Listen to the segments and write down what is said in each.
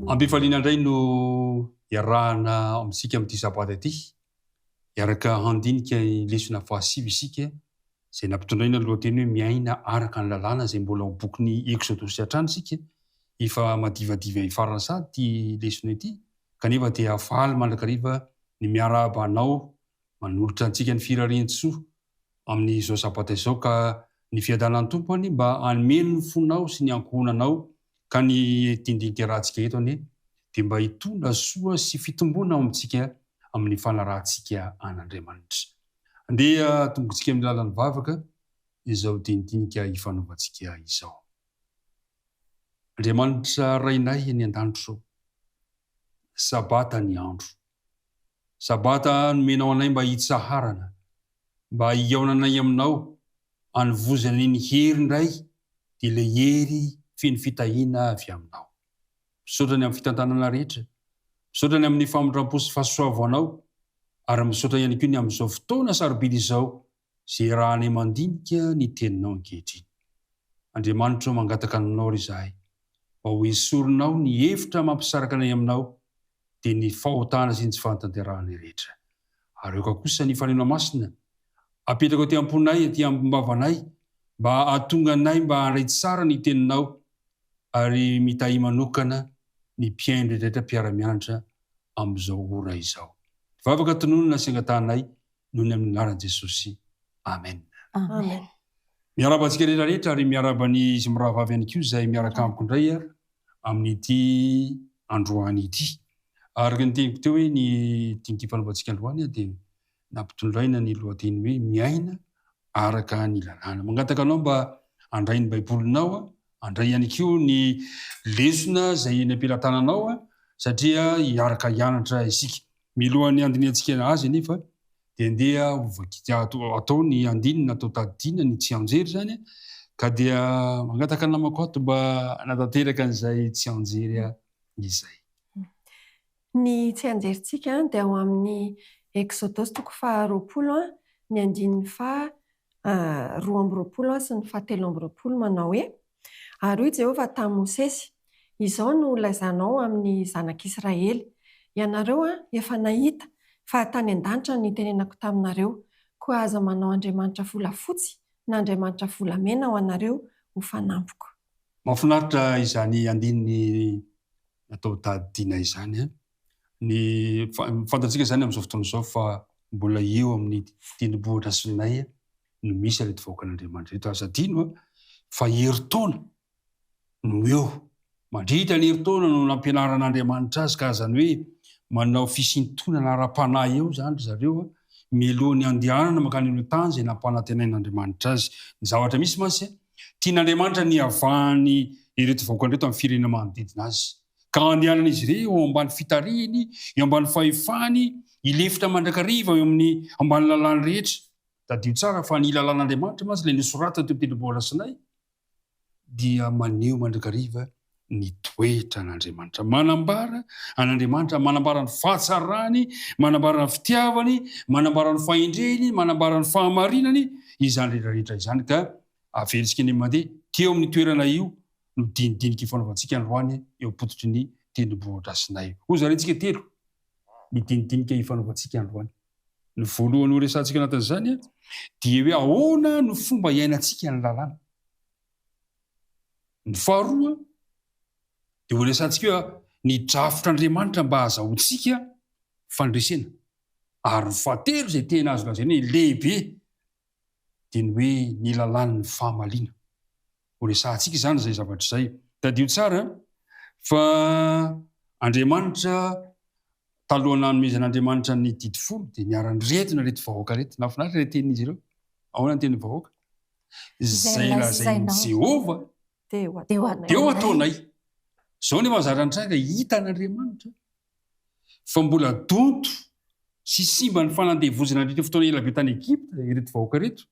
Ambifaliana indray no iarahana amintsika amin'ity sabata ity. Hiaraka handinika ny lesona fahasivy isika izay nampitondraina ny lohateny hoe Miaina araka ny lalàna izay mbola ao bokin'ny Eksodosy hatrany isika, efa madivadiva hifarana sahady ity lesona ity, kanefa dia faly mandrakariva ny miarahaba anao manolotra antsika ny firarian-tsoa amin'izao sabata izao ka ny fiadanan'ny Tompo anie mba hanome ny fonao sy ny ankohonanao ka ny dindin-kerahantsika eto anie dia mba hitondra soa sy fitombona ao amintsika amin'ny fanarahantsika an'Andriamanitra. Andeha atombokantsika amin'ny lalan'ny vavaka izao dinidinika ifanaovantsika izao. Andriamanitra Rainay any an-danitro ô, Sabata ny andro. Sabata nomenao anay mba hitsaharana, mba hihaonanay aminao, anovozanay ny hery indray, dia ilay hery feno fitahiana avy aminao. Misaotra ny amin'ny fitantanana rehetra. Misaotra ny amin'ny famindrampo sy fahasoavanao ary misaotra ihany koa ny amin'izao fotoana sarobidy izao izay iarahanay mandinika ny Teninao ankehitriny. Andriamanitra o, mangataka aminao ary izahay mba ho esorinao ny hevitra mampisaraka anay aminao dia ny fahotana sy ny tsy fahatanterahanay rehetra. ary aoka kosa ny Fanahy Masina apetrako aty am-ponay, aty am-bavanay, mba hahatonga anay mba handray tsara ny Teninao, ary mitahia manokana ny mpihaino rehetra mpiara-mianatra amin'izao ora izao. Vavaka tononina sy angatahanay noho ny amin'ny anaran'i Jesosy. Amen. Amen. Miarahaba antsika rehetra rehetra, ary miarahaba ny izy mirahavavy ihany koa izay miaraka amiko indray amin'ity androany ity. Araka ny teniko teo hoe ny dinyity fanaovantsika androany dia nampitondraina ny lohateny hoe miaina araka ny lalàna. Mangataka anao mba andray ny baibolinao, andray ihany koa ny lesona izay eny am-pelatananao satria hiaraka hianatra isika. Milohan'ny handinihantsika azy anefa dia andeha hovakika atao ny andininy atao tadidiana ny tsianjery izany ka dia mangataka ny namako ato mba hanatanteraka an'izay tsianjery izay. Ny tsianjerintsika dia ao amin'ny Eksodosy toko faha roapolo, ny andininy faha roa amby roapolo sy ny faha telo amby roapolo manao hoe, Ary hoy Jehovah tamin'i Mosesy, Izao no holaizanao amin'ny zanak'Israely, Ianareo efa nahita fa tany an-danitra no nitenenako taminareo, koa aza manao andriamanitra volafotsy na andriamanitra volamena ho anareo ho fanampiko. Mahafinaritra izany andininy natao Dady Dina izany an! Ny fantatsika izany amin'izao fotoana izao fa mbola eo amin'ny tendrombohitra Sinay no misy ireto vahoakan'Andriamanitra ireto. Aza adino an! Fa herintaona no eo, mandritra ny herintaona no nampianaran'Andriamanitra azy ka azany hoe manao fisintonana ara-panahy eo izany ry zareo an! Mialohan'ny handehanana mankany amin'ny tany izay nampanantenain'Andriamanitra azy. Ny zavatra misy mantsy Tian'Andriamanitra ny hiavahan'ny ireto vahoakany ireto amin'ny firenena manodidina azy, ka handehanan'izy ireo eo ambany fitarihiny, eo ambany fahefany, hilefitra mandrakariva eo amin'ny ambany lalàny rehetra. Tadidio tsara fa ny lalàn'Andriamanitra mantsy, ilay nosoratany teo am-tendrombohitra Sinay, dia maneho mandrakariva ny toetra an'Andriamanitra. Manambara an'Andriamanitra, manambara ny fahatsarany, manambara ny fitiavany, manambara ny fahendreny, manambara ny fahamarinany, izany rehetrarehetra izany ka avelintsika ny mandeha teo amin'ny toerana io no dinidinika ifanaovantsika androany eo am-pototry ny tendrombohidrasinay. Hozarintsika telo ny dinidinika ifanaovantsika androany. Ny voalohany horesahantsika anatin'izany dia hoe ahoana no fomba iainantsika ny lalàna. Ny faharoa, dia horesahantsika hoe ny drafitr'Andriamanitra mba hahazahoantsika fandresena. Ary ny fahatelo, izay tena azo lazaina hoe lehibe, dia ny hoe ny lalàn'ny fahamaliana. Horesahantsika izany izay zavatra izay. Tadidio tsara fa Andriamanitra, talohan'ny nanomezan'Andriamanitra ny didy folo, dia niara-niretina ireto vahoaka ireto. Nahafinaritra ilay tenin'izy ireo. Ahoana ny tenin'ny vahoaka? izay lazain'i Jehovah, dia ho ataonay. Izao nefa zara nitranga, hitan'Andriamanitra fa mbola donto sy simba ny fanandevoziny nandritra ny fotoana ela be tany Egypta ireto vahoaka ireto,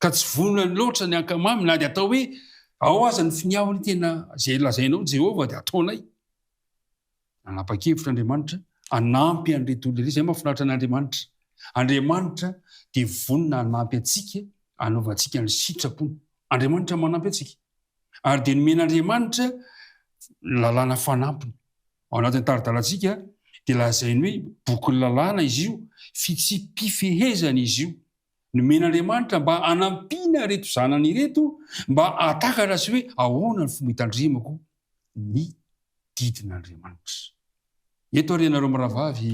ka tsy vonona loatra ny hankamamy, na dia atao hoe, Ao aza ny finiavany, tena izay lazainao, Jehovah, dia ataonay. Nanapa-kevitra Andriamanitra hanampy an'ireto olona ireto. Izay mahafinaritra an'Andriamanitra. Andriamanitra dia vonona hanampy antsika hanaovantsika ny sitrapony. Andriamanitra manampy antsika. Ary dia nomen'Andriamanitra lalàna fanampiny. Ao anatin'ny tari-dalantsika dia lazainy hoe bokin'ny lalàna izy io, fitsipi-pifehezana izy io. Nomen'Andriamanitra mba hanampiana ireto zanany ireto mba hahatakatra sy hoe ahoana ny fomba hitandremako ny didin'Andriamanitra. Eto ary ianareo mirahavavy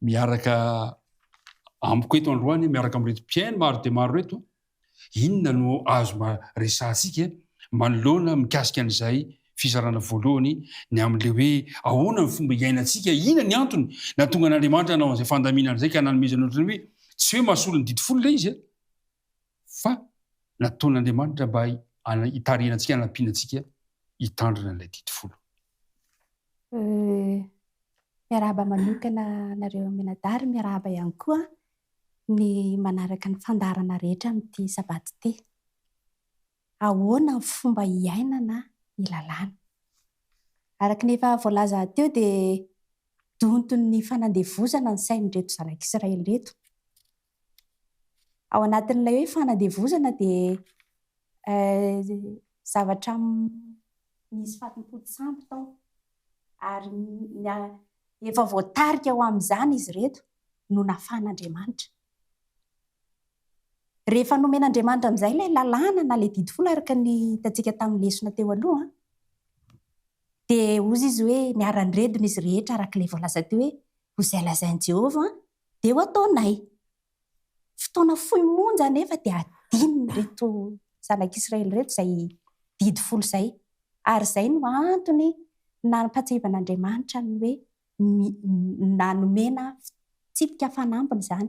miaraka amiko eto androany, miaraka amin'ireto mpihaino maro dia maro ireto, inona no azo resahantsika manoloana mikasika an'izay fizarana voalohany ny amin'ilay hoe ahoana ny fomba iainantsika, inona ny antony nahatonga an'Andriamanitra nanao an'izay fandaminana izay ka nanomezany ohatran'ny hoe tsy hoe mahasolo ny didy folo ilay izy. fa nataon'Andriamanitra mba hitarihana antsika, hanampiana antsika hitandrina an'ilay didy folo. Miarahaba manokana anareo mianadahy, miarahaba ihany koa ny manaraka ny fandaharana rehetra amin'ity sabata ity. Ahoana ny fomba hiainana ny lalàna? Araka ny efa voalaza teo dia donton'ny fanandevozana ny sain'ireto zanak'Israely ireto. ao anatin'ilay hoe fanadevozana dia zavatra misy fatim-potosampy tao ary efa voatarika ho amin'izany izy ireto no nafahan'Andriamanitra. Rehefa nomen'Andriamanitra amin'izay ilay lalàna na ilay didy folo araka ny hitantsika tamin'ny lesona teo aloha, dia hozy izy hoe miara-niredona izy rehetra araka ilay voalaza teo hoe ho izay lazain'i Jehovah Dia ho ataonay. Fotoana fohy monja anefa dia hadinon'ireto zanak'Israely ireto izay didy folo izay, ary izay no antony nampahatsiahivan'Andriamanitra ny hoe na nomena fitsipika fanambiny izany.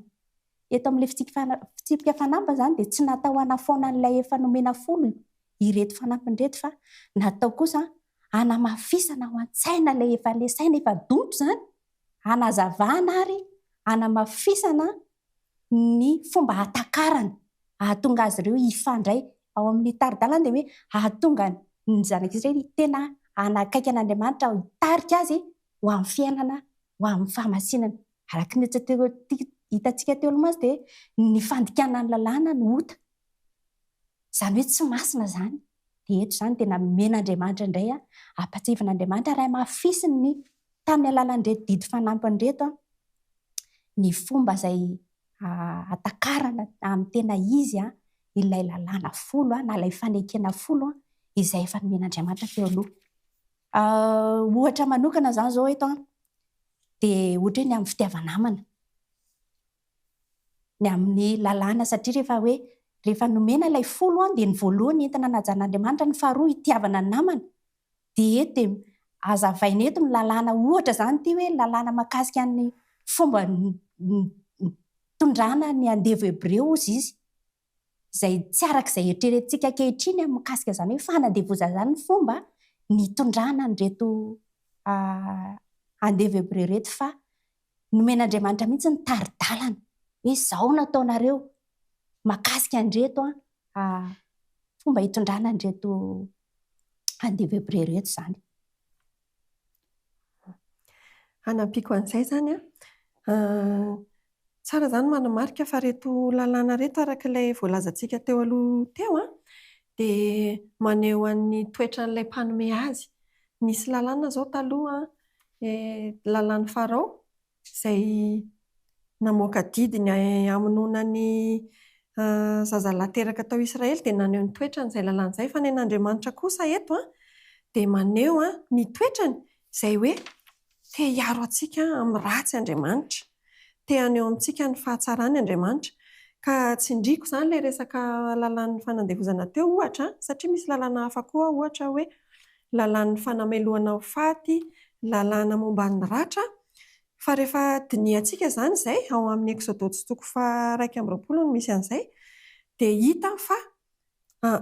Eto amin'ilay fitsipika fanambiny izany dia tsy natao hanafoana an'ilay efa nomena folo ireto fanampiny ireto fa natao kosa hanamafisana ao an-tsaina ilay efa le saina efa donto izany, hanazavana ary hanamafisana ny fomba hatakarana hahatonga azy ireo hifandray ao amin'ny tari-dalana dia hoe hahatonga ny zanak'Israely tena hanakaiky an'Andriamanitra hitarika azy ho amin'ny fiainana ho amin'ny fahamasinana. Araka ny hitantsika teo aloha mantsy dia ny fandikana ny lalàna no ota. Izany hoe tsy masina izany. Dia eto izany dia namen'Andriamanitra indray ampahatsiavin'Andriamanitra ary hamafisiny ny tamin'ny alalan'ireto didy fanampiny ireto ny fomba izay hatakarana amin'ny tena izy ilay lalàna folo na ilay fanekena folo izay efa nomen'Andriamanitra teo aloha. Ohatra manokana izany izao eto dia ohatra hoe ny amin'ny fitiava-namana, ny amin'ny lalàna satria rehefa hoe rehefa nomena ilay folo dia ny voalohany entina najan'Andriamanitra, ny faharoa itiavana ny namana, DH, dia azavaina eto ny lalàna ohatra izany ity hoe ny lalàna mahakasika ny fomba nitondrana ny andevo hebreo hozy izy izay tsy araka izay eritreretintsika ankehitriny mikasika izany hoe fanandevozana izany ny fomba nitondrana an'ireto andevo hebreo ireto fa Nomen'Andriamanitra mihitsy ny tari-dalana hoe izao no ataonareo mahakasika an'ireto fomba hitondrana an'ireto andevo Hebreo ireto izany. Hanampiako an'izay izany an, tsara izany manamarika fa ireto lalàna ireto araka ilay voalazantsika teo aloha teo an, dia maneho an'ny toetran'ilay mpanome azy. Nisy lalàna izao taloha an, Dia lalan'i Farao, izay namoaka didy ny hamonoana ny zazalahy teraka tao Israely, dia naneho ny toetrany izay lalana izay. Fa ny an'Andriamanitra kosa eto an, dia maneho ny toetrany izay hoe te hiaro antsika amin'ny ratsy Andriamanitra. Te haneho amintsika ny fahatsarany Andriamanitra. Ka tsindriako izany ilay resaka lalàn'ny fanandevozana teo, ohatra, satria misy lalàna hafa koa, ohatra hoe lalàn'ny fanamelohana ho faty, lalàna momba ny ratra. Fa rehefa dinihantsika izany izay, ao amin'ny Eksodosy toko faha-iraika amby roapolo no misy an'izay, dia hita fa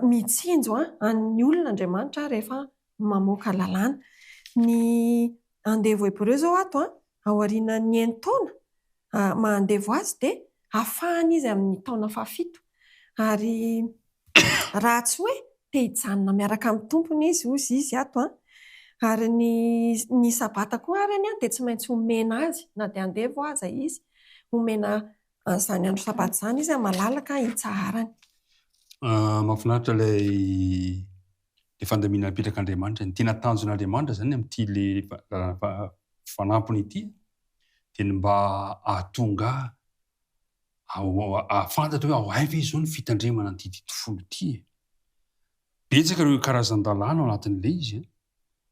mitsinjo an'ny olona Andriamanitra rehefa mamoaka lalàna. Ny andevo hebreo izao ato an, aorianan'ny enin-taona maha andevo azy dia afahana izy amin'ny taona fahafito. Ary raha tsy hoe te hijanona miaraka amin'ny tompony izy, hozy izy ato an, ary ny ny sabata koa ary anie dia tsy maintsy omena azy na dia andevo aza izy, omena an'izany andro sabata izany izy an, malalaka hitsaharany. Mahafinaritra ilay. le fandaminana apetraka Andriamanitra ny tena tanjon' Andriamanitra zany amty le fanampiny ity de ny mba ahatonga ahafantatra hoe ao aiza ve izao ny fitandremana anty didy folo ity e betsaka reo karazandalana ao anatin' le izy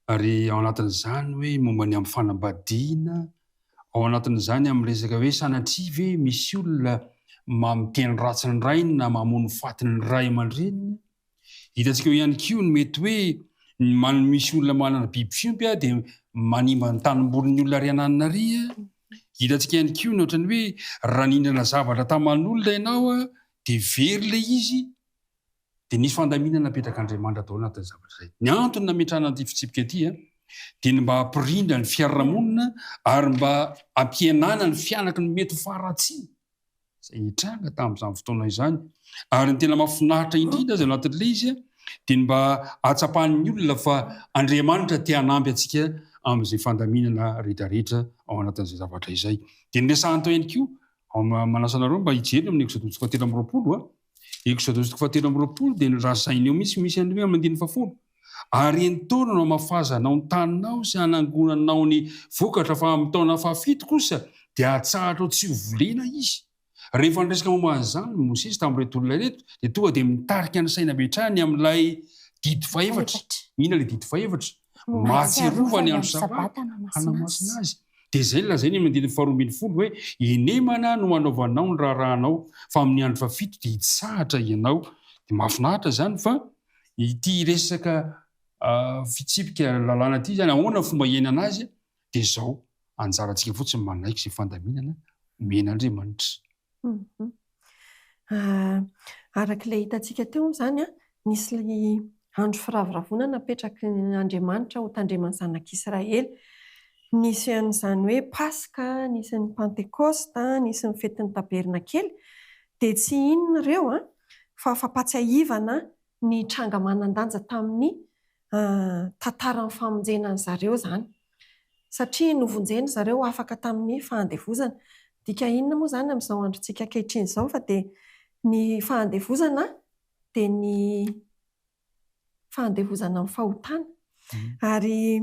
ary ao anatin' izany hoe momba ny am fanambadiana ao anatin' izany am resaka hoe sanatria ve misy olona mamiteny ratsy ny rainy na mamono faty ny ray aman-dreniny Hitantsika eo ihany koa ny mety hoe ny manome misy olona manana ny biby fiompy aho dia manimba ny tanimbolin'ny olona ary ananina ary a. Hitantsika ihany koa ny ohatran'ny hoe raha nihinana zavatra taman'olona ianao a dia very ilay izy dia nisy fandaminana napetrak'Andriamanitra tao anatin'ny zavatra izay. Ny antony nametrahana an'ity fitsipika ity a dia ny mba hampirindra ny fiarahamonina ary mba hampihenana ny fianaky ny mety ho faharatsiana. izay nitranga tamin'izany fotoana izany. Ary ny tena mahafinaritra indrindra aza ao anatin'ilay izy dia ny mba ahatsapan'ny olona fa Andriamanitra te hanampy antsika amin'izay fandaminana rehetrarehetra ao anatin'izay zavatra izay. Dia noresahany tao ihany koa, manasa anareo mba hijery eo amin'ny Eksodoso fahatelo amby roapolo, Exodosy toko fahatelo amby roapolo dia norazainy eo mihitsy misy an'ireo amin'ny andininy fahafolo. Ary entoana no hamafazanao ny taninao sy hanangonanao ny vokatra fa amin'ny taona fahafito kosa dia hatsahatrao tsy ho volena izy. Rehefa niresaka momba an'izany Mosesy tamin'ireto olona ireto dia tonga dia mitarika ny saina avy hatrany amin'ilay didy fahefatra. Inona ilay didy fahefatra? Mahatsiarova ny andro Sabata hanamasina azy. Dia izay no lazain'ny amin'ny andininy faharoa ambin'ny folo hoe, Henemana no hanaovanao ny raharahanao, fa amin'ny andro fahafito dia hitsahatra ianao. Dia mahafinaritra izany fa ity resaka fitsipika lalàna ity izany, ahoana ny fomba hiainana azy dia izao, anjarantsika fotsiny manaiky izay fandaminana omen'Andriamanitra. Araka ilay hitantsika teo moa izany an, nisy andro firavoravoana napetraky Andriamanitra ho tandreman'ny zanak'Israely. Nisy an'izany hoe Paska, nisy ny Pantekosta, nisy ny fetin'ny Tabernakely. Dia tsy inona ireo an, fa fampahatsiahivana ny tranga manan-danja tamin'ny tantaran'ny famonjena an-dry zareo izany. Satria novonjeny ry zareo ho afaka tamin'ny fahandevozana. Midika inona moa izany amin'izao androntsika ankehitriny izao fa dia ny fahandevozana dia ny fahandevozana amin'ny fahotana? Ary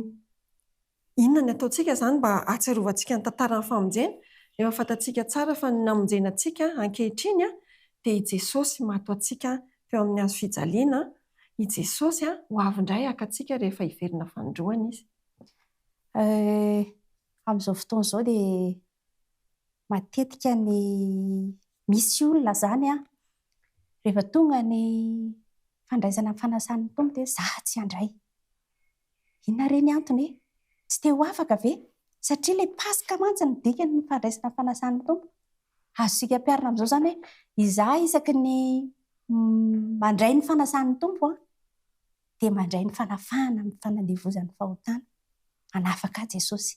Inona ny ataontsika izany mba hahatsiarovantsika ny tantaran'ny famonjena? Efa fantatsika tsara fa ny namonjena antsika ankehitriny dia i Jesosy maty ho antsika teo amin'ny hazo fijaliana. I Jesosy ho avy indray haka antsika rehefa hiverina fanindroany Izy. Amin'izao fotoana izao dia matetika ny misy olona izany rehefa tonga ny fandraisana ny fanasan'ny Tompo dia za tsy handray. Inona re ny antony e? Tsy te ho afaka ve? Satria ilay Paska mantsy no dikany ny fandraisana fanasan'ny Tompo. Azontsika ampiharina amin'izao izany hoe, izaho isaky ny mandray ny fanasan'ny Tompo an, dia mandray ny fanafahana amin'ny fanandevozan'ny fahotana. Hanafaka ahy Jesosy.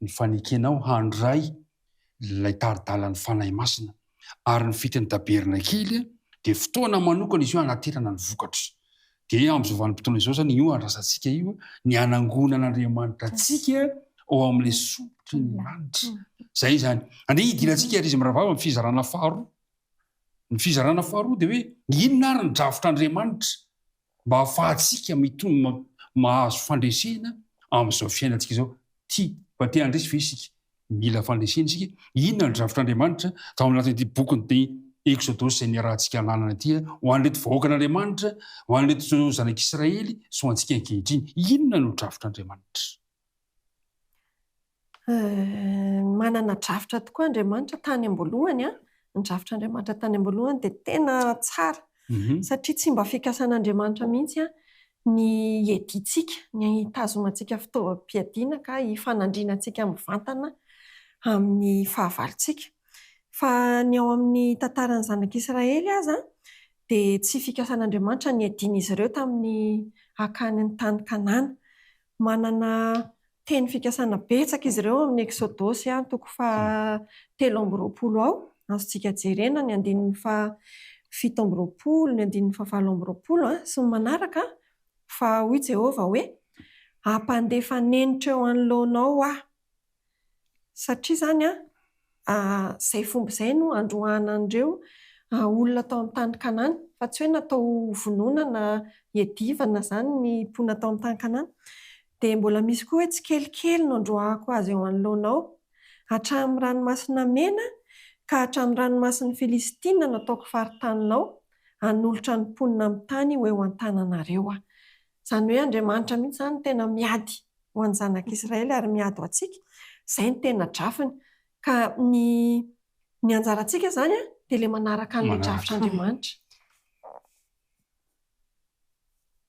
ny fanekenao handray ilay tari-dalan'ny Fanahy Masina, ary ny fetin'ny Tabernakely dia fotoana manokana izy io hanaterana ny vokatra. Dia amin'izao vanim-potoana izao izany io andrasantsika io ny hanangona an'Andriamanitra antsika ao amin'ilay solotry ny lanitra. Izay izany. Andeha hidirantsika ry izy mirahavavy amin'ny fizarana faharoa. Ny fizarana faharoa dia hoe inona ary ny drafitr'Andriamanitra mba hahafahantsika mitombo mahazo fandresena amin'izao fiainantsika izao. Tia fa te handresy ve isika? Mila fandresena isika. Inona ny drafitr'Andriamanitra tao anatin'ity bokin'ny Eksodosy izay niarahantsika hananana ity ho an'ireto vahoakan'Andriamanitra, ho an'ireto zanak'Israely sy ho antsika ankehitriny? Inona no drafitr'Andriamanitra? Manana drafitra tokoa Andriamanitra tany am-boalohany. Ny drafitra Andriamanitra tany am-boalohany dia tena tsara, satria tsy mba fikasan'Andriamanitra mihitsy ny hiadiantsika, ny hitazonantsika fitaovam-piadiana ka hifanandrina antsika mivantana amin'ny fahavalontsika. Fa ny ao amin'ny tantaran'ny zanak'Israely aza dia tsy fikasan'Andriamanitra ny hiadian'izy ireo tamin'ny hakany ny tany Kanana. Manana teny fikasana betsaka izy ireo ao amin'ny Eksodosy an, toko faha telo amby roapolo ao. Azontsika jerena ny andininy faha fito amby roapolo, ny andininy faha valo amby roapolo sy ny manaraka fa hoy Jehovah hoe, Hampandefa nenitra eo anoloanao aho. Satria izany an, izay fomba izay no androahana an'ireo olona tao amin'ny tany Kanana. Fa tsy hoe natao hovonoina na hiadivana izany ny mponina tao amin'ny tany Kanana. Dia mbola misy koa hoe tsikelikely no androahako azy eo anoloanao, hatramin'ny Ranomasina Mena ka hatramin'ny ranomasin'i Filistina no ataoko faritaninao, hanolotra ny mponina amin'ny tany ho eo an-tananareo aho. Izany hoe Andriamanitra mihitsy izany no tena miady ho an'ny zanak'Israely ary miady ho antsika. Izay no tena drafiny. Ka ny ny anjarantsika izany dia ilay manaraka an'ilay drafitr'Andriamanitra.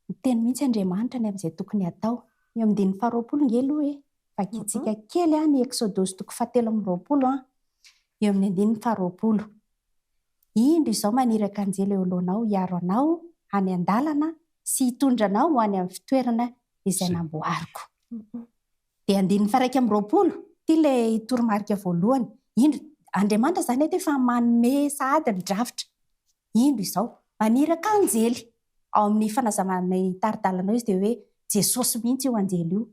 Miteny mihitsy Andriamanitra ny amin'izay tokony hatao. Eo amin'ny andininy faharoapolo ange aloha e. Vakintsika kely ny Eksodosy toko fahatelo amby roapolo an. Eo amin'ny andininy faharoapolo. Indro izao maniraka anjely eo alohanao hiaro anao any an-dalana sy hitondra anao ho any amin'ny fitoerana izay namboariko. Dia andininy faha iraika amby roapolo, ity ilay toromarika voalohany. Indro, Andriamanitra izany eto efa manome sahady ny drafitra. Indro izao, maniraka anjely. Ao amin'ny fanazavana ny tari-dalanao izy dia hoe Jesosy mihitsy io anjely io.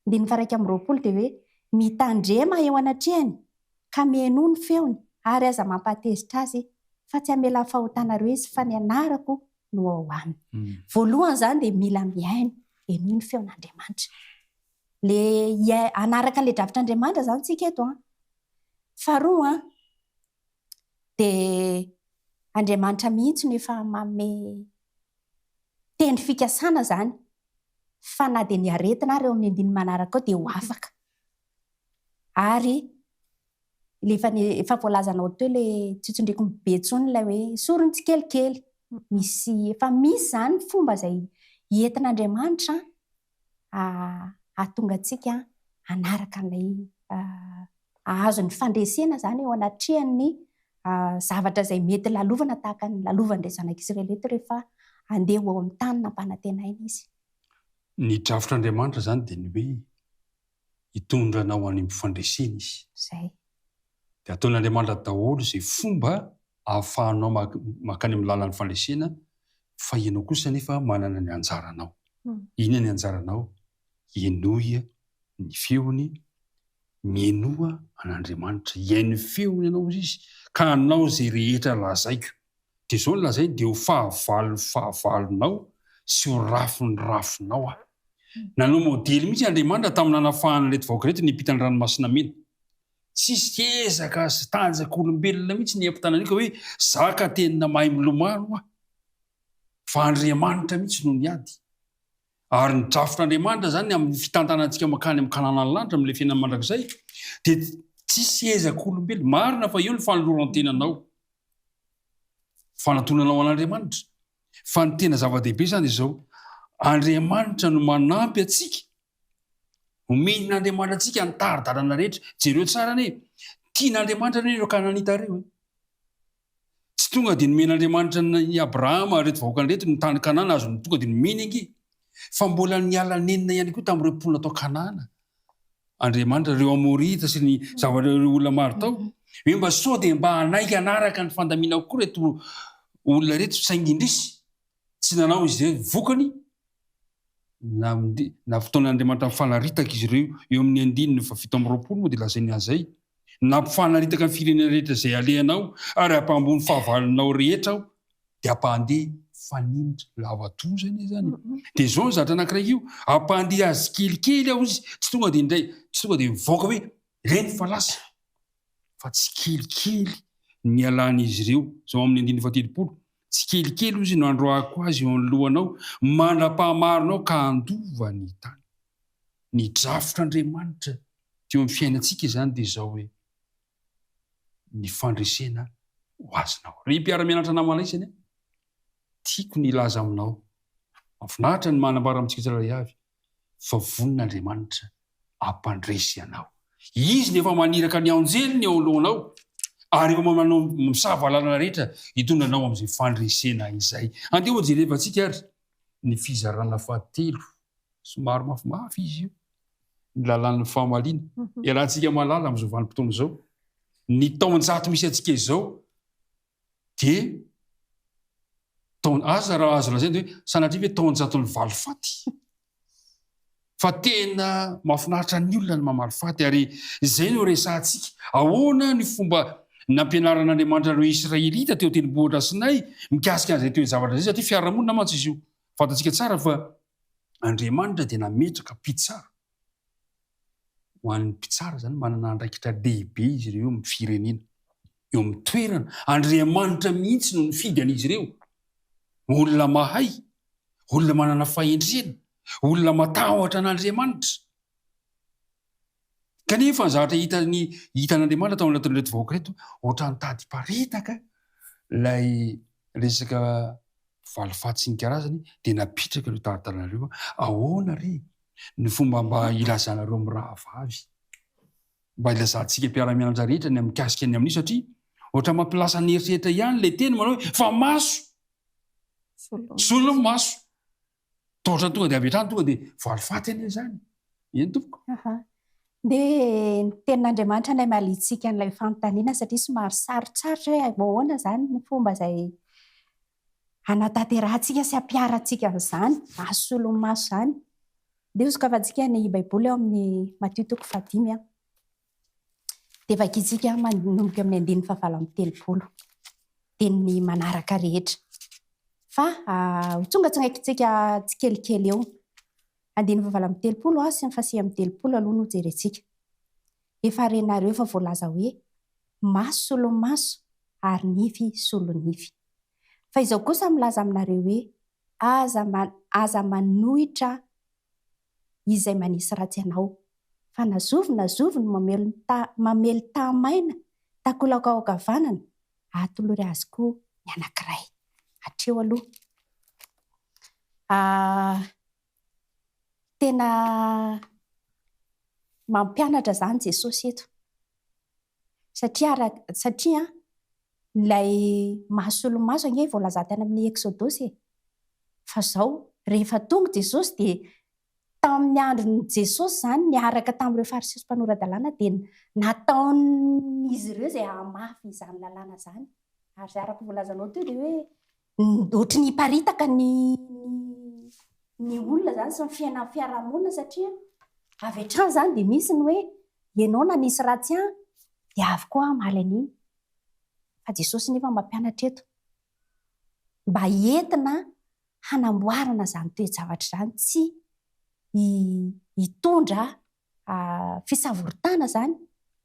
Andininy faha iraika amby roapolo dia hoe, Mitandrema eo anatrehany ka mihenoa ny feony ary aza mampahatezitra azy fa tsy hamelà fahotanareo izy fa ny anarako no ao aminy. Voalohany izany dia mila mihaino, henoy ny feon'Andriamanitra. Le hiai- hanaraka an'ilay drafitr'Andriamanitra izany tsika eto an. Faharoa an, dia Andriamanitra mihitsy no efa manome tendry fikasana izany fa na dia ny aretina ary ao amin'ny andininy manaraka ao dia ho afaka. ary le efa ny efa voalazanao teo le tsy tsindriko ny be tsony ilay hoe sorony tsikelikely misy efa misy zany ny fomba izay entin'Andriamanitra hahatonga antsika hanaraka an'ilay hahazo ny fandresena zany eo anatrehan'ny zavatra izay mety lalovana tahaka ny lalovan'ireo zanak'Israely eto rehefa handeha ho ao amin'ny tany nampanantenaina izy. Ny drafitr'Andriamanitra zany dia ny hoe hitondra anao any amin'ny fandresena izy. Izay. Dia ataon'Andriamanitra daholo izay fomba ahafahanao mankany amin'ny lalan'ny fandresena fa ianao kosa anefa manana ny anjaranao. Inona ny anjaranao? Henoy ny feony, mihenoa an'Andriamanitra, hihaino ny feony ianao izy ka hanao izay rehetra lazaiko. dia izao no lazainy, dia ho fahavalon'ny fahavalonao sy ho rafin'ny rafinao aho. Nanao modely mihitsy Andriamanitra tamin'ny nanafahana ireto vahoaka ireto niampita ny Ranomasina Mena. Tsisy ezaka sy tanjak'olombelona mihitsy ny hiampitana an'io ka hoe, za ka tena mahay milomano aho. Fa Andriamanitra mihitsy no niady. Ary ny drafitr'Andriamanitra izany amin'ny fitantanantsika mankany amin'ny Kananan'ny lanitra milefenan'ny mandrakizay, dia tsisy ezak'olombelona. Marina fa eo ny fanoloran-tenanao. Fanantonana ho an'Andriamanitra. Fa ny tena zava-dehibe izany dia izao, Andriamanitra no manampy antsika. Omen'Andriamanitra antsika ny tari-dalana rehetra. Jereo tsara anie, tian'Andriamanitra anie ireo Kananita ireo. Eh. Tsy tonga dia nomen'Andriamanitra ny Abrahama reto vahoakany reto ny tany Kanana azony tonga dia nomeny ange. Fa mbola niala nenina ihany koa tamin'ireo mponina tao Kanana. Andriamanitra ireo Amorita sy ny zavatra ireo olona maro tao. Hoe mba sao dia mba hanaiky hanaraka ny fandaminako koa ireto olona ireto saingy indrisy tsy nanao izy ireo. Vokany, nampitaon'Andriamanitra mifanaritaka izy ireo. Eo amin'ny andininy fahafito amby roapolo moa dia lazainy an'izay, Nampifanaritaka ny firenena rehetra izay alehanao ary hampahambony fahavalonao rehetra aho dia ampahandeha fanenitra lava toa izay ne zany dia izao ny zatra anankiray io ampahandeha azy kelikely aho izy tsy tonga dia indray tsy tonga dia mivoaka hoe reny fa lasa fa tsy kelikely ny alan'izy ireo izao amin'ny andininy fahatelopolo tsy kelikely ozy no androahako azy eo anoloanao mandra-pahamarinao ka handova ny tany ny drafotr'Andriamanitra teo amin'ny fiainantsika izany dia izao hoe ny fandresena ho azonao. Ry mpiara-mianatra namalay sy anie, tiako ny hilaza aminao fa mahafinaritra ny manambara amintsika tsirairay avy fa vonin'Andriamanitra hampandresy anao. Izy no efa maniraka ny anjeliny eo anoloanao ary efa manao misava lalana rehetra hitondra anao amin'izay fandresena izay. Andeha hojerevantsika ary ny fizarana fahatelo, somary mafimafy izy io. ny lalàn'ny fahamaliana. Iarahantsika mahalala amin'izao vanim-potoana izao, ny taon-jato misy antsika izao dia taon aza raha azo lazaina hoe sanatria ve taon-jaton'ny valifaty. Fa tena mahafinaritra ny olona ny mamaly faty ary izay no resahantsika. Ahoana ny fomba nampianaran'Andriamanitra ireo Israelita teo an-tendrombohitra Sinay mikasika an'izay toe-javatra izay satria fiarahamonina mantsy izy io. Fantatsika tsara fa Andriamanitra dia nametraka mpitsara. Ho an'ny mpitsara izany, manana andraikitra lehibe izy ireo eo amin'ny firenena, eo amin'ny toerana. Andriamanitra mihitsy no nifidy an'izy ireo. Olona mahay, olona manana fahendrena, olona matahotra an'Andriamanitra. Kanefa ny zavatra hitan'ny hitan'Andriamanitra tao anatin'ireto vahoaka ireto, ohatran'ny tady hiparitaka ilay resaka valifaty sy ny karazany, dia napitraka ireo taratara ireo, ahoana re ny fomba mba hilazanareo mirahavavy, mba hilazantsika mpiara-mianatra rehetra ny mikasika ny amin'io, satria ohatran'ny mampilasa ny eritreritra ihany ilay teny manao hoe fa maso, solony maso, Taotrany tonga dia avy hatrany tonga dia valifaty anie izany. Eny tompoko. Aha. Dia ny tenin'Andriamanitra no hamaliantsika an'ilay fanontaniana satria somary sarotsarotra hoe ahoana izany ny fomba izay hanatanterahantsika sy hampiharantsika an'izany masolon'ny maso izany. Dia hosokafantsika ny Baiboly ao amin'ny Matio toko fahadimy. dia vakintsika manomboka amin'ny andininy fahavalo amby telopolo dia ny manaraka rehetra fa ho tonga tsangaikitsika tsikelikely eo andininy fahavalo amby telopolo sy ny fahasivy amby telopolo aloha no jerentsika efa renareo fa voalaza hoe maso solon'ny maso ary nify solon'ny nify fa izao kosa milaza aminareo hoe aza aza manohitra izay manisy ratsy anao. Fa na zovy na zovy no mamely ny ta mamely taha maina takolaka ao ankavanana, atolory azy koa ny anankiray. Hatreo aloha. Ah, tena mampianatra izany Jesosy eto. Satria ra, satria ilay maha solomaso ange voalazà tany amin'ny Eksodosy e. Fa zao, rehefa tonga Jesosy dia tamin'ny andron'i Jesosy izany niaraka tamin'ireo Fariseo sy mpanora-dalàna dia nataon'izy ireo izay hahamafy izany lalàna izany. Ary araka ny voalazanao teo dia hoe Ohatry ny hiparitaka ny ny olona izany sy ny fiainan'ny fiarahamonina satria avy hatrany izany dia misy ny hoe ianao nanisy ratsy ahy dia avy koa aho hamaly an'iny. Fa Jesosy nefa mampianatra eto mba entina hanamboarana izany toe-javatra izany, tsy hitondra fisavoritana izany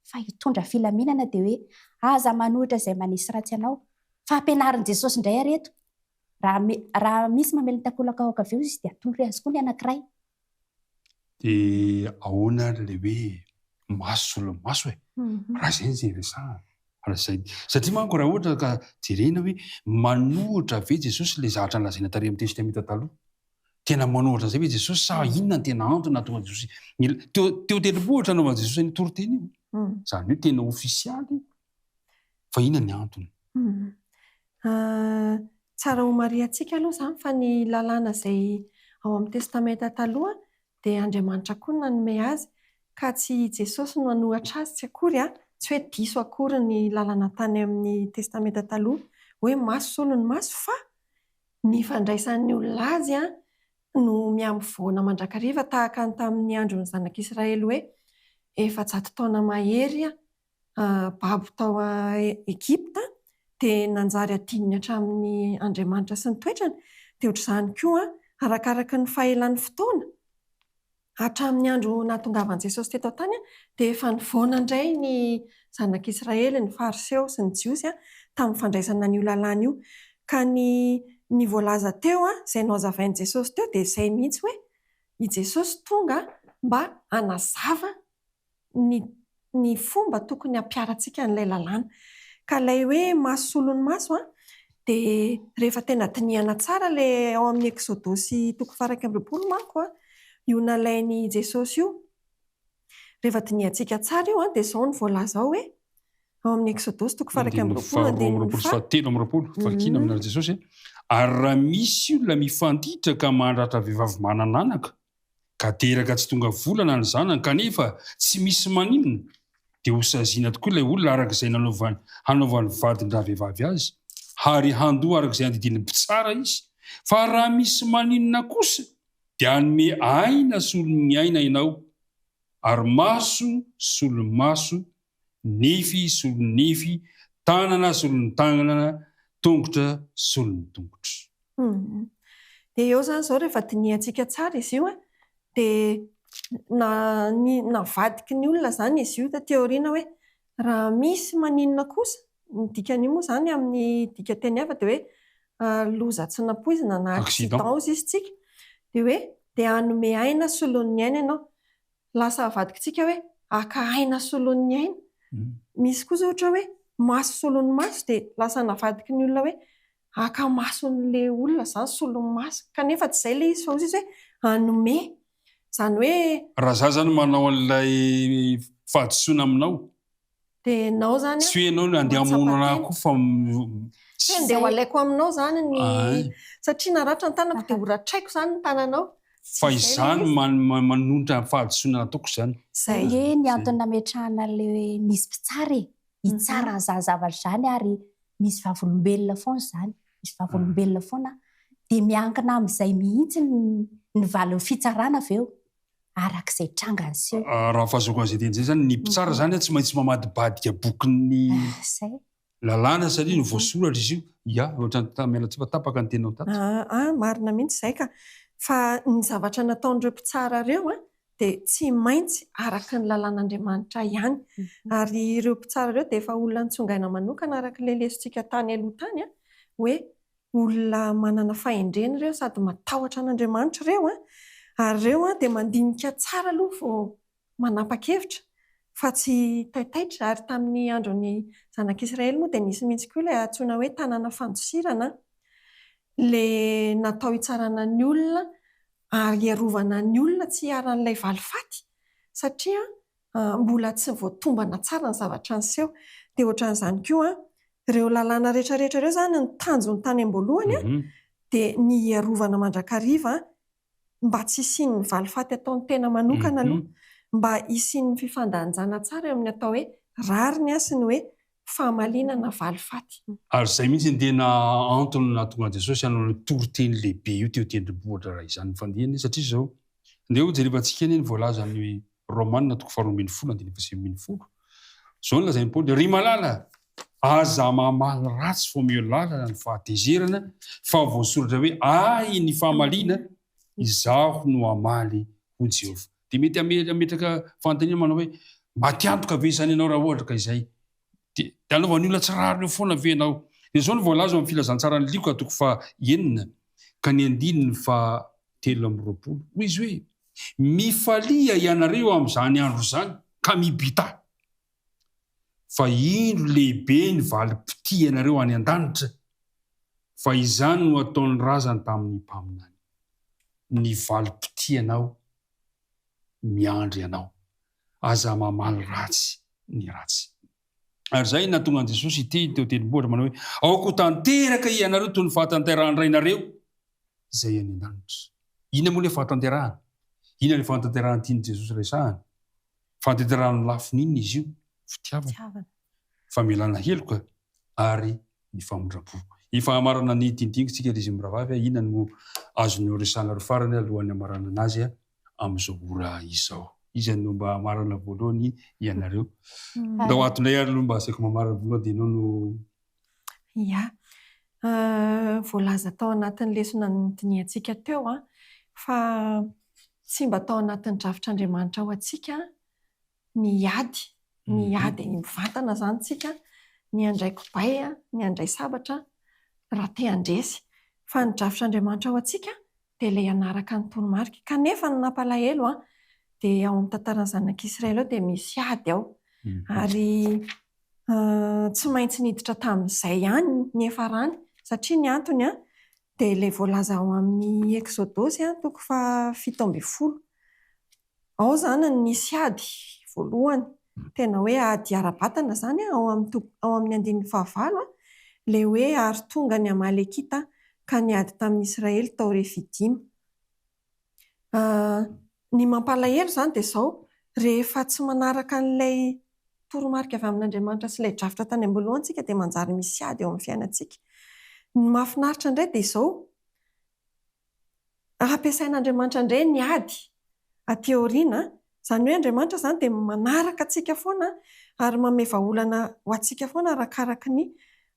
fa hitondra filaminana dia hoe aza manohitra izay manisy ratsy anao fa ampianarin'i Jesosy indray ary eto raha raha misy mamely ny takolaka ao ankavia izy dia atolory azy koa ny anankiray dia ahoana ary ilay hoe maso solomaso e mhm. raha izay izay resahana raha izay satria manko raha ohatra ka jerena hoe manohitra ve Jesosy ilay zavatra nolazaina tary amin'ny testamente taloha Tena manao ohatran'izay ve Jesosy sa inona no tena antony nahatonga Jesosy nila teo teo tendrombohitra nanaovan'i Jesosy an'io toriteny io? Izany hoe tena ofisialy io fa inona ny antony? Tsara homarihantsika aloha izany fa ny lalàna izay ao amin'ny Testamenta Taloha dia Andriamanitra koa no nanome azy ka tsy i Jesosy no hanohatra azy tsy akory an! Tsy hoe diso akory ny lalana tany amin'ny Testamenta Taloha hoe maso solo ny maso fa Ny fandraisan'ny olona azy no mihamivoana mandrakariva tahaka ny tamin'ny andron'ny zanak'Israely hoe efajato taona mahery babo tao Egypta dia nanjary adinony hatramin'ny Andriamanitra sy ny toetrany, dia ohatr'izany koa arakaraka ny fahelan'ny fotoana, Hatramin'ny andro nahatongavan'i Jesosy teto an-tany dia efa nivaona indray ny zanak'Israely, ny Fariseo sy ny Jiosy, tamin'ny fandraisana an'io lalàna io. Ka ny ny voalaza teo, izay nohazavain'i Jesosy teo, dia izay mihitsy hoe, i Jesosy tonga mba hanazava ny ny fomba tokony hampiharantsika an'ilay lalàna. Ka ilay hoe maso solon'ny maso an, dia rehefa tena dinihana tsara ilay ao amin'ny Eksodosy toko faha-iraika amby roapolo manko an, io nalain'i Jesosy io, rehefa dinihantsika tsara io an, dia izao no voalaza ao hoe, ao amin'ny Eksodosy toko faha-iraika amby Andininy roapolo, faharoa amby andininy roapolo sy faha. fahatelo amby roapolo, Vakina aminà Jesosy hoe, Ary raha misy olona mifanditra ka mandratra vehivavy manana anaka, ka teraka tsy tonga volana ny zanany kanefa tsy misy maninona dia ho saziana tokoa ilay olona araka izay nanaovany hanaovany vadin-dravehivavy azy ary handoa araka izay andidian'ny mpitsara izy fa raha misy maninona kosa dia hanome aina solon'ny aina ianao ary maso solomaso nify solon'ny nify, tanana solon'ny tanana, tongotra solon'ny tongotra. Dia eo izany izao rehefa dinihantsika tsara izy io dia navadiky ny olona izany izy io taty aoriana hoe raha misy maninona kosa, ny dikan'io moa izany amin'ny dikanteny hafa dia hoe loza tsy nampoizina na accident hozisintsika dia hoe dia hanome aina solon'ny aina ianao. lasa avadikitsika hoe haka aina solon'ny aina. Misy kosa ohatra hoe maso solon'ny maso dia lasa navadiky ny olona hoe haka mason'ilay olona izany solon'ny maso. Kanefa tsy izay ilay izy fa hoy Jesosy hoe hanome. Izany hoe. Raha izaho izany manao an'ilay fahadisoana aminao. Tsy hoe ianao no handeha hamono ahy koa fa. Tsy hoe handeha ho alaiko aminao izany ny. Satria naratra ny tanako dia horatraiko izany ny tananao. Fa izany manonitra ny fahadisoana nataoko izany. Izay ange ny antony nametrahana ilay misy mpitsara e, hitsara an'izany zavatra izany ary misy vavolombelona foana izany, misy vavolombelona foana dia miankina amin'izay mihitsy ny valin'ny fitsarana avy eo. araka izay tranga niseho. Raha fahazoako azy ety an'izay izany, ny mpitsara izany tsy maintsy mamadibadika bokin'ny lalàna satria no voasoratra izy io. Ya, ohatran'ny Tamelatifa, tapaka ny teninao tato. Ah, marina mihitsy izay ka. Fa ny zavatra nataon'ireo mpitsara ireo dia tsy maintsy araka ny lalàn'Andriamanitra ihany. Ary ireo mpitsara ireo dia efa olona nitsongaina manokana araka ilay lesontsika tany aloha tany hoe Olona manana fahendrena ireo sady matahotra an'Andriamanitra ireo an! Ary ireo an dia mandinika tsara aloha vao manapa-kevitra fa tsy taitaitra ary tamin'ny andron'ny zanak'Israely moa dia nisy mihitsy koa ilay antsoina hoe tanana fandosirana an! Ilay natao hitsarana ny olona ary hiarovana ny olona tsy hiharan'ilay valifaty satria mbola tsy voatombana tsara ny zavatra niseho. Dia ohatran'izany koa, ireo lalàna rehetrarehetra ireo izany, ny tanjony tany am-boalohany dia ny hiarovana mandrakariva mba tsy hisian'ny valifaty ataon'ny tena manokana aloha, mba hisian'ny fifandanjana tsara eo amin'ny atao hoe rariny sy ny hoe famaliana na valifaty. Ary izay mihitsy ny tena antony nahatonga an'i Jesosy hanao an'io toriteny lehibe io teo Tendrombohitra, raha izany no fandinihana, satria izao, andeha hojerevantsika anie ny voalazany hoe. Romana toko faharoa ambin'ny folo andininy faha sivy ambin'ny folo. Izao no lazain'i Paoly, Ry malala, aza mamaly ratsy fa omeo lalana ny fahatezerana, fa voasoratra hoe, Ahy ny famaliana, izaho no hamaly, hoy Jehovah. Dia mety hametraka fanontaniana manao hoe, Matiantoka ve izany ianao raha ohatra ka izay? Dia dia anaovan'ny olona tsy rariny eo foana ve ianao? Dia izao no voalaza ao amin'ny Filazantsaran'i Lioka toko faha enina ka ny andininy faha telo amby roapolo. Hoy izy hoe, Mifalia ianareo eo amin'izany andro izany, ka mibità. Fa indro lehibe ny valim-pitia ianareo any an-danitra, fa izany no ataon'ny razany tamin'ny mpaminany. Ny valim-pitianao miandry anao. Aza mamaly ratsy ny ratsy. Ary izay no nahatonga an'i Jesosy hiteny teo an-tendrombohitra manao hoe, Aoka ho tanteraka hianareo toy ny fahatanterahan'ny Rainareo izay any an-danitra. Inona moa ilay fahatanterahana? Inona ilay fahatanterahana tian'i Jesosy resahana? Fahatanterahana amin'ny lafiny inona izy io? Fitiavana, famelana heloka ary ny famindram-po. Efa hamarana ny tintingintsika ry zimbrahavavy a! Inona no azonao resahana ry farany alohan'ny hamaranana azy a! amin'izao ora izao. Iza no mba hamarana voalohany ianareo? Ndao ato indray ary aloha mba asaiko mamarana voalohany dia ianao no. Ia. Voalaza tao anatin'ny lesona nodinihantsika teo fa tsy mba tao anatin'ny drafitr'Andriamanitra ho antsika ny ady, ny ady mivantana izany isika, ny handray kibay, ny handray sabatra raha te handresy. Fa ny drafitr'Andriamanitra ho antsika dia ilay hanaraka ny toromarika. Kanefa ny nampalahelo dia ao amin'ny tantaran'ny zanak'Israely ao dia misy ady ao. Ary tsy maintsy niditra tamin'izay ihany ny hiafarany. Satria ny antony dia ilay voalaza ao amin'ny Eksodosy toko fahafito ambin'ny folo. Ao izany no nisy ady voalohany, tena hoe ady ara-batana izany an, ao amin'ny toko, ao amin'ny andininy fahavalo an, ilay hoe ary tonga ny Amalekita ka niady tamin'ny Israely tao Refidima. Ny mampalahelo izany dia izao, rehefa tsy manaraka an'ilay toromarika avy amin'Andriamanitra sy ilay drafitra tany am-boalohany isika dia manjary misy ady eo amin'ny fiainantsika. Ny mahafinaritra indray dia izao, ary ampiasain'Andriamanitra indray ny ady aty aoriana, izany hoe Andriamanitra izany dia manaraka antsika foana ary manome vahaolana ho antsika foana arakaraky ny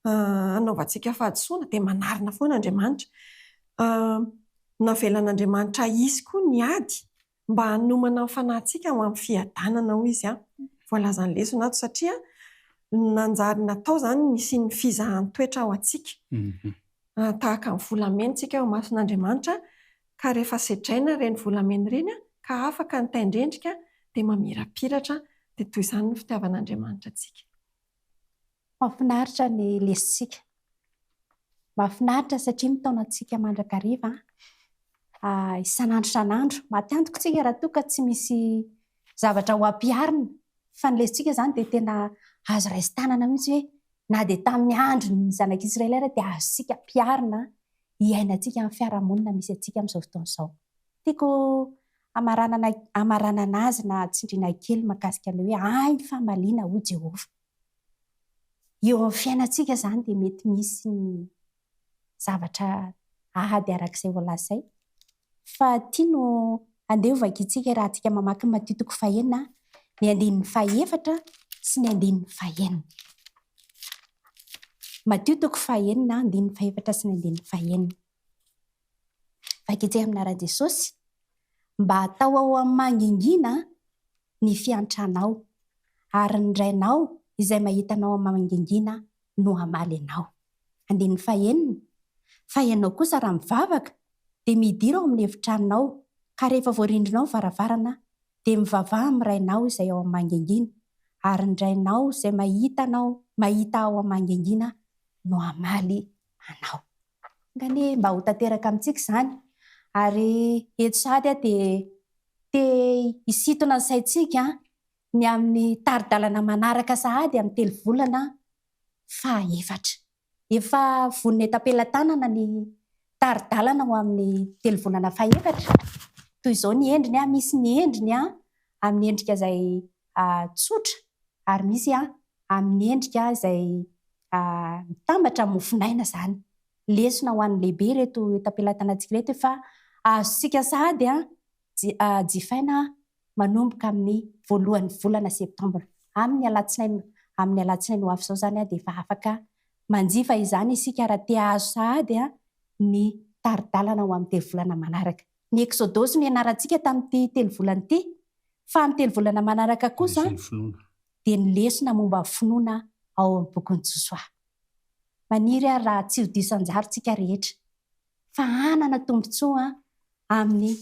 hanaovantsika fahadisoana, dia manarina foana Andriamanitra. Navelan'Andriamanitra hisy koa ny ady. Mba hanomana ny fanahintsika ho amin'ny fiadanana, hoy izy, voalazan'ny lesona ato, satria nanjary natao izany ny hisian'ny fizahan-toetra ho antsika. Tahaka ny volamena isika eo imason'Andriamanitra, ka rehefa sedraina ireny volamena ireny ka afaka ny tain-drendrika dia mamirapiratra, dia toy izany ny fitiavan'Andriamanitra antsika. Mahafinaritra ny lesintsika. Mahafinaritra satria mitaona antsika mandrakariva isan'andro isan'andro. Matiantoka isika raha toa ka tsy misy zavatra ho ampiharina, fa ny lesintsika izany dia tena azo raisin-tanana mihitsy hoe na dia tamin'ny andron'ny zanak'Israely ary dia azontsika ampiharina hiainantsika amin'ny fiarahamonina misy antsika amin'izao fotoana izao. Tiako hamaranana hamaranana azy na tsindriana kely mahakasika ny hoe Ahy ny famaliana, hoy Jehovah. eo amin'ny fiainantsika izany dia mety misy ny zavatra ady araka izay voalazaina. Fa ity no andeha hovakiantsika raha mamaky ny Matio toko fahenina, ny andininy fahefatra sy ny andininy fahenina. Matio toko fahenina, andininy fahefatra sy ny andininy fahenina. Vaika etsy amina Rajesosy mba hatao ao amin'ny mangingina ny fiantranao ary ny Rainao izay mahita anao amin'ny mangingina no hamaly anao. Andininy fahenina, Fa ianao kosa raha mivavaka dia midira ao amin'ny efitranonao ka rehefa voarindrinao ny varavarana dia mivavaha amin'ny Rainao izay ao amin'ny mangingina ary ny Rainao izay mahita anao mahita ao amin'ny mangingina no hamaly anao. Enga anie mba ho tanteraka amintsika izany. Ary eto sahady aho dia te hisintona ny saintsika ny amin'ny tari-dalana manaraka sahady amin'ny telovolana fahaefatra. Efa vonona eto am-pelatanana ny tari-dalana ho amin'ny telovolana fahaefatra. Toy izao ny endriny, misy ny endriny amin'ny endrika izay tsotra ary misy amin'ny endrika izay mitambatra amin'ny mofonaina izany. Lesona ho an'ny lehibe ireto enta-pelatanantsika ireto fa azontsika sahady jifaina manomboka amin'ny voalohan'ny volana septambra. Amin'ny alatsinainy amin'ny alatsinainy ho avy izao izany dia efa afaka manjifa izany isika raha te hahazo sahady ny tari-dalana ho amin'ny telo volana manaraka. Ny Eksodosy nianarantsika tamin'ity telo volana ity, fa amin'ny telo volana manaraka kosa dia ny lesona momba ny finoana ao amin'ny bokin'i Josoa. Maniry aho raha tsy ho diso anjara isika rehetra, fa hanana tombontsoa amin'ny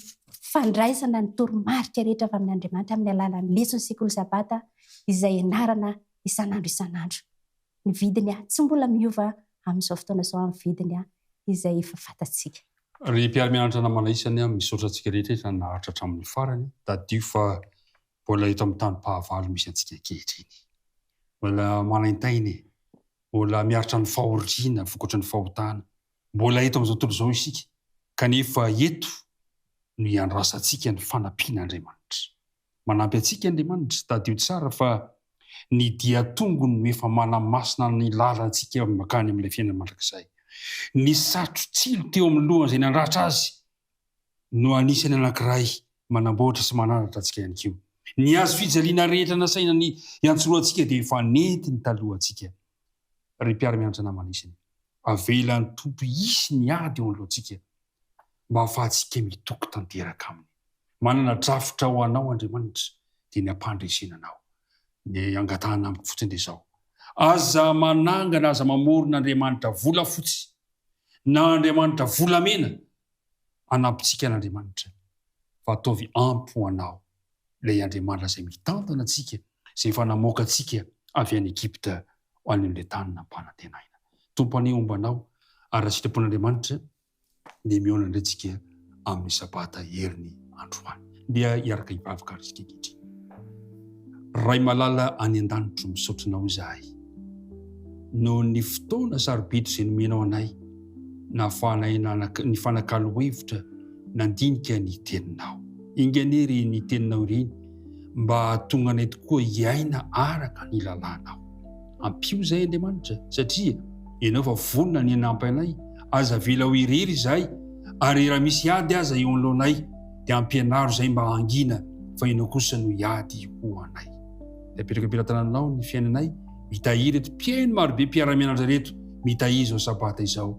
fandraisana ny toromarika rehetra avy amin'Andriamanitra amin'ny alalan'ny leson'ny Sekoly Sabata izay ianarana isan'andro isan'andro. Ny vidiny tsy mbola miova amin'izao fotoana izao amin'ny vidiny izay efa fantatsika. Ry mpiara-mianatra namana isany, misaotra antsika rehetra efa naharitra hatramin'ny farany. Tadidio fa mbola eto amin'ny tanim-pahavalo misy antsika ankehitriny. Mbola manaintaina e! Mbola miaritra ny fahoriana vokatry ny fahotana. Mbola eto amin'izao tontolo izao isika, kanefa eto no iandrasantsika ny fanampian'Andriamanitra. Manampy antsika Andriamanitra, tadidio tsara fa ny dian-tongony no efa manamasina ny lalantsika mankany amin'ilay fiainana mandrakizay. Ny satro-tsilo teo amin'ny lohan'izay nandratra azy no anisan'ny anankiray manamboatra sy manandratra antsika ihany koa. Ny hazo fijaliana rehetra nasaina ny hiantsoroantsika dia efa nentiny taloha antsika. Ry mpiara-mianatra namana isany, avelan'ny Tompo hisy ny ady eo anoloantsika mba hahafahantsika mitoky tanteraka Aminy. Manana drafitra ho anao Andriamanitra dia ny hampandresena anao. Ny angatahana amiko fotsiny dia izao, aza manangana, aza mamorona andriamanitra volafotsy na andriamanitra volamena hanampintsika an'Andriamanitra fa ataovy ampy ho anao ilay Andriamanitra izay mitantana antsika, izay efa namoaka antsika avy any Egypta ho any amin'ilay tany nampanantenaina. Tompo anie homba anao ary raha sitrapon'Andriamanitra dia mihaona indray tsika amin'ny sabata heriny androany. Ndeha hiaraka hivavaka ary isika ankehitriny. Ray malala any an-danitro, misaotra Anao izahay noho ny fotoana sarobidy izay nomenao anay nahafahanay nanak nifanakalo hevitra nandinika ny Teninao. Enga anie ry ny Teninao ireny mba hahatonga anay tokoa hiaina araka ny lalànao. Ampio izay Andriamanitra, satria Ianao efa vonona ny hanampy anay, aza avela ho irery izahay, ary raha misy ady aza eo anoloanay, dia ampianaro izahay mba hangina fa Ianao kosa no hiady ho anay. Dia apetraka am-pelatananao ny fiainanay, mitahiry ireto mpihaino marobe mpiara-mianatra ireto, mitahiry izao Sabata izao.